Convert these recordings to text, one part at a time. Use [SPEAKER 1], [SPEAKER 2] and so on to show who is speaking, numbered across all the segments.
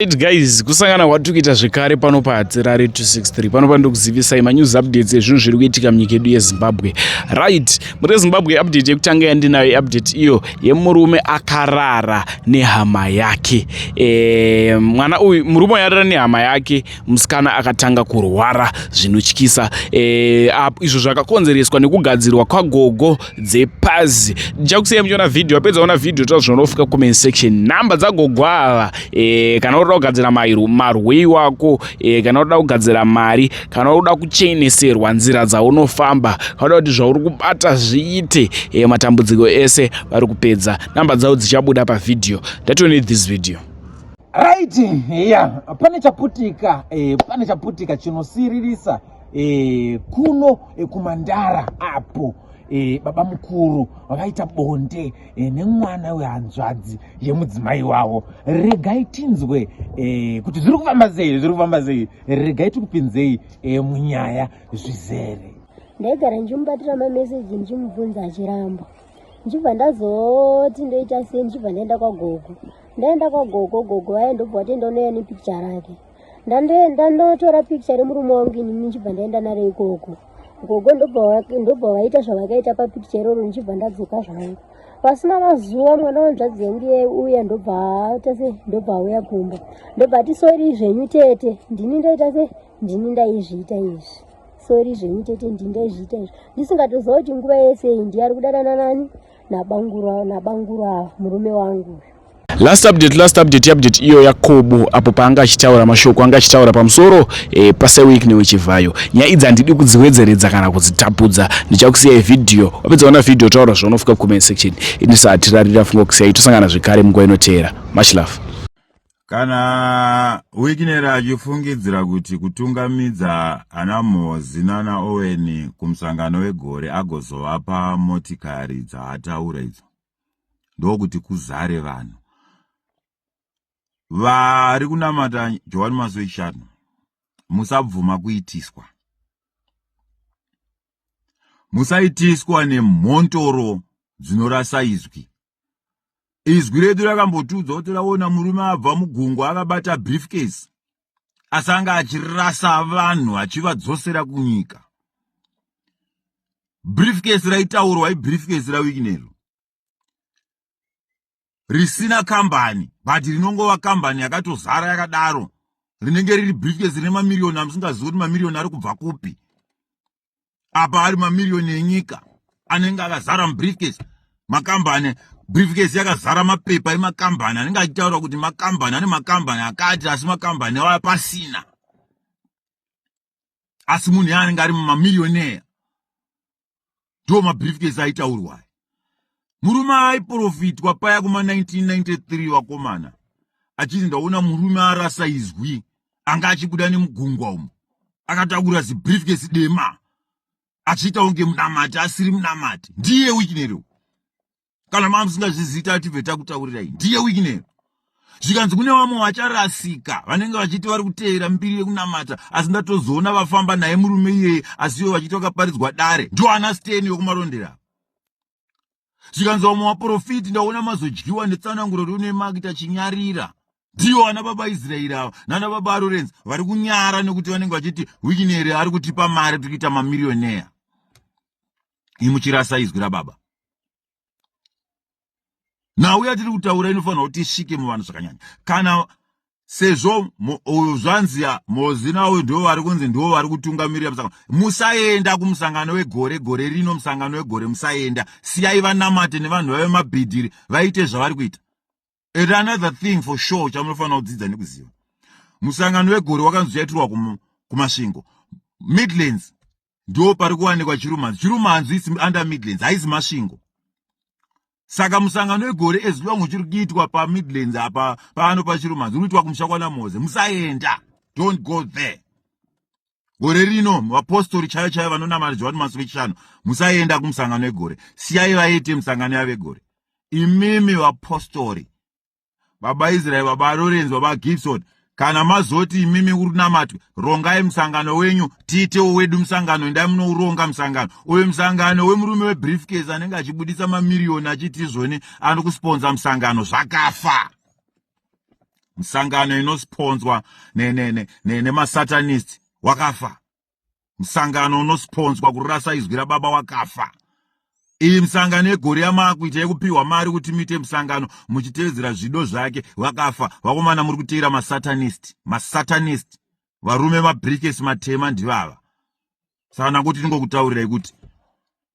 [SPEAKER 1] Right guys, kusangana kwatikuita zvekare pano pahatirare 263 pano pandokuzivisai manews updates ezvinhu zviri kuitika munyika yedu yezimbabwe right muri zimbabwe update yekutanga yandinayo update iyo yemurume akarara nehama yake e, mwana uyu murume yarara nehama yake musikana akatanga kurwara zvinotyisa e, izvo zvakakonzereswa nekugadzirwa kwagogo dzepazi ndichakusiya muchiona vhidhiyo wapedza ona vhidhiyo toa zvinonofika comment section nhamba dzagogo ava e, kana unoda kugadzira marwei wako e, kana unoda kugadzira mari kana unoda kucheneserwa nzira dzaunofamba kana unoda kuti zvauri kubata zviite e, matambudziko ese vari kupedza nhamba dzavo dzichabuda pavhidhiyo that you need this video
[SPEAKER 2] right yeah pane chaputika eh, pane chaputika chinosiririsa e, kuno e, kumandara apo e, baba mukuru vakaita bonde e, nemwana wehanzvadzi yemudzimai wavo regai tinzwe e, kuti zviri kufamba sei zviri kufamba sei regai tikupinzei e, munyaya zvizere ndaigara
[SPEAKER 3] ndichimubatira mameseji ndichimubvunza achiramba ndichibva ndazoti ndoita sei ndichibva ndaenda kwagogo ndaenda kwagogo gogo vaye ndobva vatenda unouya nepikicha rake ndandoenda ndotora picture remurume wangu ini ndichibva ndaenda naro ikoko gogo ndobva vaita zvavakaita papicture iroro ndichibva ndadzoka zvangu pasina mazuva mwana wanzvadzi yangu iye uya ndobva aita se ndobva auya kumba ndobva ati sori zvenyu tete ndini ndaita se ndini ndaizviita izvi sori zvenyu tete ndini ndaizviita izvi ndisingatoziva kuti nguva yese iyi ndiyari kudanana nani nabangura nabangura murume wangu last update
[SPEAKER 1] last update update iyo yakobo apo paanga achitaura mashoko anga achitaura pamusoro eh, paseweek newechivhayo nyaya idzi handidi kudziwedzeredza kana kudzitapudza ndichakusiyai vhidhiyo wapedza kuona vhidhiyo taura zvaunofika kucomment section ini sahatirarira funga kusiyai tosangana zvekare munguva inoteera much love Kana
[SPEAKER 4] Wickner achifungidzira kuti kutungamidza ana Mozi nana Owen kumusangano wegore agozovapa motikari dzaataura idzo ndokuti kuzare vanhu vari kunamata Johani Masowe Shanu musabvuma kuitiswa musaitiswa nemhontoro dzinorasa izwi izwi redu rakambotiudza kuti raona murume abva mugungwa akabata briefcase asanga achirasa vanhu achivadzosera kunyika briefcase raitaurwa ibriefcase rawikinero risina kambani but rinongova kambani yakatozara yakadaro rinenge riri briefcase rine mamiriyoni amusingazivi kuti mamiriyoni ari kubva kupi apa ari mamiriyoni enyika anenge akazara mubriefcase makambani briefcase yakazara mapepa emakambani anenge achitaura kuti makambani ane makambani akati asi makambani aya pasina asi munhu yaanenge ari mumamiriyoni eya ndo mabriefcase aitaurwa murume aiprofitwa paya kuma 1993 vakomana achiti ndaona murume arasa izwi anga achibuda nemugungwa umo akatakura zibriefcase dema achiita unge munamati asiri munamati ndiye wikinero kana maa musingazviziita atibve takutaurirai ndiye wikinero zvikanzi kune vamwe vacharasika vanenge vachiti vari kuteera mbiri yekunamata asi ndatozoona vafamba naye murume iyeye asiwo vachiti vakaparidzwa dare ndoana steni wekumarondera zvikanzi vamwe vaprofiti ndaona mazodyiwa netsananguro riune maki tachinyarira ndiyo ana baba israeri ava nana baba arorenzi vari kunyara nekuti vanenge vachiti wikineri ari kutipa mari tiri kuita mamirioneya imuchirasa izwi rababa nhau yatiri kutaura inofanira kuti isvike muvanhu zvakanyanya kana sezvo uyu zvanzi mozina uyu ndivo vari kunzi ndivo vari kutungamirira musangano musaenda kumusangano wegore gore rino musangano wegore musaenda siyai vanamate nevanhu vave mabhidhiri vaite zvavari kuita and another thing for sure chamunofanira kudzidza nekuziva musangano wegore wakanzi uchaitirwa kumasvingo midlands ndo pari kuwanikwa chirumanzi chirumanzi is under midlands haizi masvingo saka musangano wegore as long uchiri kuitwa pamidlands apa pano pachirumanzi unoitwa kumusha kwanamoze musaenda don't go there gore rino vapostori chaiyo chaiyo vanonamata johani masuku echishanu musaenda kumusangano wegore siyai vaite musangano yavegore imimi vapostori baba israel baba lorenzi baba gibson kana mazoti imimi urunamatwe rongai musangano wenyu tiitewo wedu musangano endai munouronga musangano uyo musangano wemurume webriefcase anenge achibudisa mamiriyoni achiti izvoni ano kusponza musangano zvakafa musangano inosponzwa nemasatanist ne, ne, ne, wakafa musangano unosiponzwa kurasa izwi rababa wakafa iyi misangano yegore yamaakuita yekupiwa mari kuti muite musangano muchitevedzera zvido zvake vakafa vakomana muri kuteera masatanist masatanist varume mabrikes matema ndivava sana kuti ndingokutaurirai kuti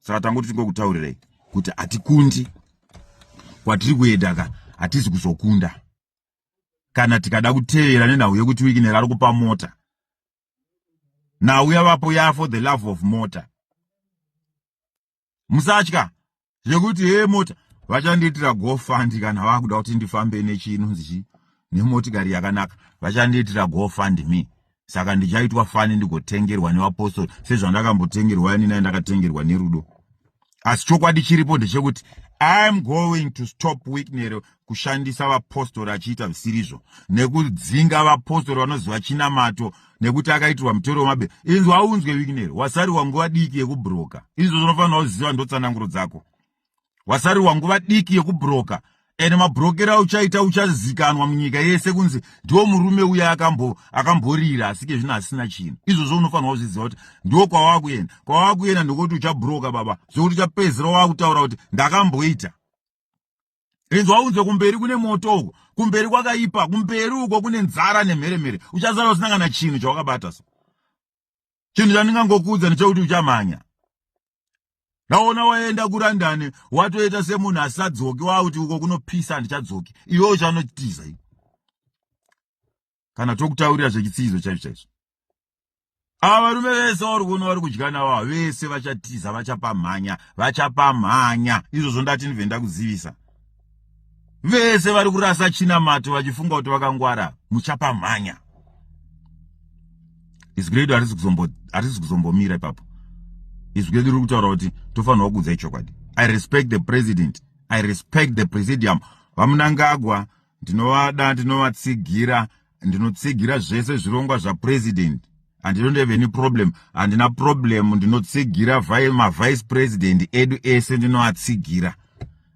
[SPEAKER 4] saka tangoti tingokutaurirei kuti hatikundi kwatiri kuenda ka hatizi kuzokunda kana tikada kutevera nenhau yekuti wiki nerari kupa mota nhau yavapo ya for the love of mota musatya zvekuti hee mota vachandiitira gofandi kana vakuda kuti ndifambe nechinonzi chii nemotikari yakanaka vachandiitira gofandi me saka ndichaitwa fani ndigotengerwa nevapostori sezvandakambotengerwa ini nai ndakatengerwa nerudo asi chokwadi chiripo ndechekuti iam going to stop wiknero kushandisa vapostori achiita zvisirizvo nekudzinga vapostori vanoziva chinamato nekuti akaitirwa mutoro wemabe inzwa unzwe wiknero wasariwa nguva diki yekubroka izvo zvinofanira kuziva ndotsananguro dzako wasarirwa nguva diki yekubroka ende mabrokero auchaita uchazikanwa munyika yese kunzi ndiwo murume uye akamborira asike zvino asina chinhu izvozvo unofanirwa kuzviziva kuti ndiwo kwawava kuenda kwawava kuenda ndokuti uchabroka baba zvokuti uchapedzisira wava kutaura kuti ndakamboita inzwa unzwe kumberi kune moto uko kumberi kwakaipa kumberi uko kune nzara nemheremhere uchazara usina kana chinhu chawakabata so chinhu chandingangokuudza ndechekuti uchamhanya ndaona waenda kurandani watoita semunhu asisadzoki wakuti uko kunopisa handichadzoki iwe uchanotiza i kana tokutaurira zvechitsiizo chaizvo chaizvo ava varume vese vari kuona vari kudya navo vese vachatiza vachapamhanya vachapamhanya izvozvo ndati ndibve ndakuzivisa vese vari kurasa chinamato vachifunga kuti vakangwara muchapamhanya izwi redu harisi kuzombomira ipapo izwi redu riri kutaura kuti tofanirwa kuudza ichokwadi i respect the president i respect the presidium vamunangagwa ndinovada ndinovatsigira ndinotsigira zvese zvirongwa zvapresident and you don't have any problem handina problem ndinotsigira mavice president edu ese ndinoatsigira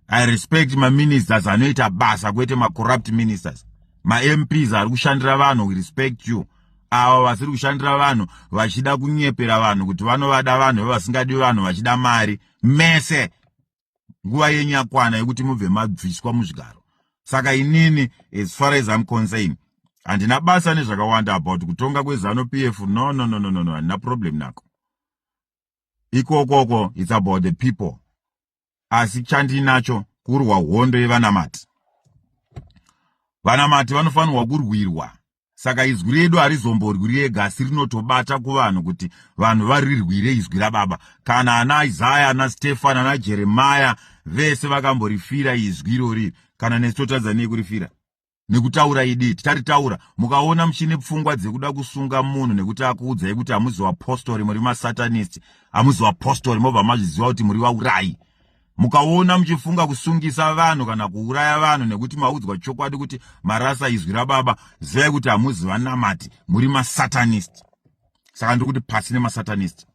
[SPEAKER 4] i respect maministers anoita basa kwete macorrupt ministers mamps ari kushandira vanhu we respect you ava vasiri kushandira vanhu vachida kunyepera vanhu kuti vanovada vanhu vevasingadi vanhu vachida mari mese nguva yenyu yakwana yekuti mubve mabviswa muzvigaro saka inini as far as im concern handina basa nezvakawanda about kutonga kwezano p f no no no no no no handina problem nako ikokoko its about the people asi chandiinacho kurwa hondo yevanamati vanamati vanofanirwa kurwirwa saka izwi redu harizomborwi riega asi rinotobata kuvanhu kuti vanhu varirwire izwi rababa kana ana isaya ana stefani ana jeremaya vese vakamborifira izwi irori kana nesu totadza nei kurifira nekutaura idi titaritaura mukaona muchine pfungwa dzekuda kusunga munhu nekuti akuudzai kuti hamuzi vapostori muri masatanist hamuzi vapostori mobva mazviziva kuti muri vaurayi Mukaona muchifunga kusungisa vanhu kana kuuraya vanhu nekuti maudzwa chokwadi kuti marasa izwi rababa, zivai kuti hamuzi vanamati, muri masatanist. Saka ndiri kuti pasi nemasatanist.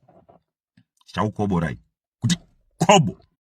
[SPEAKER 4] Chakukoborai. Kuti kobo.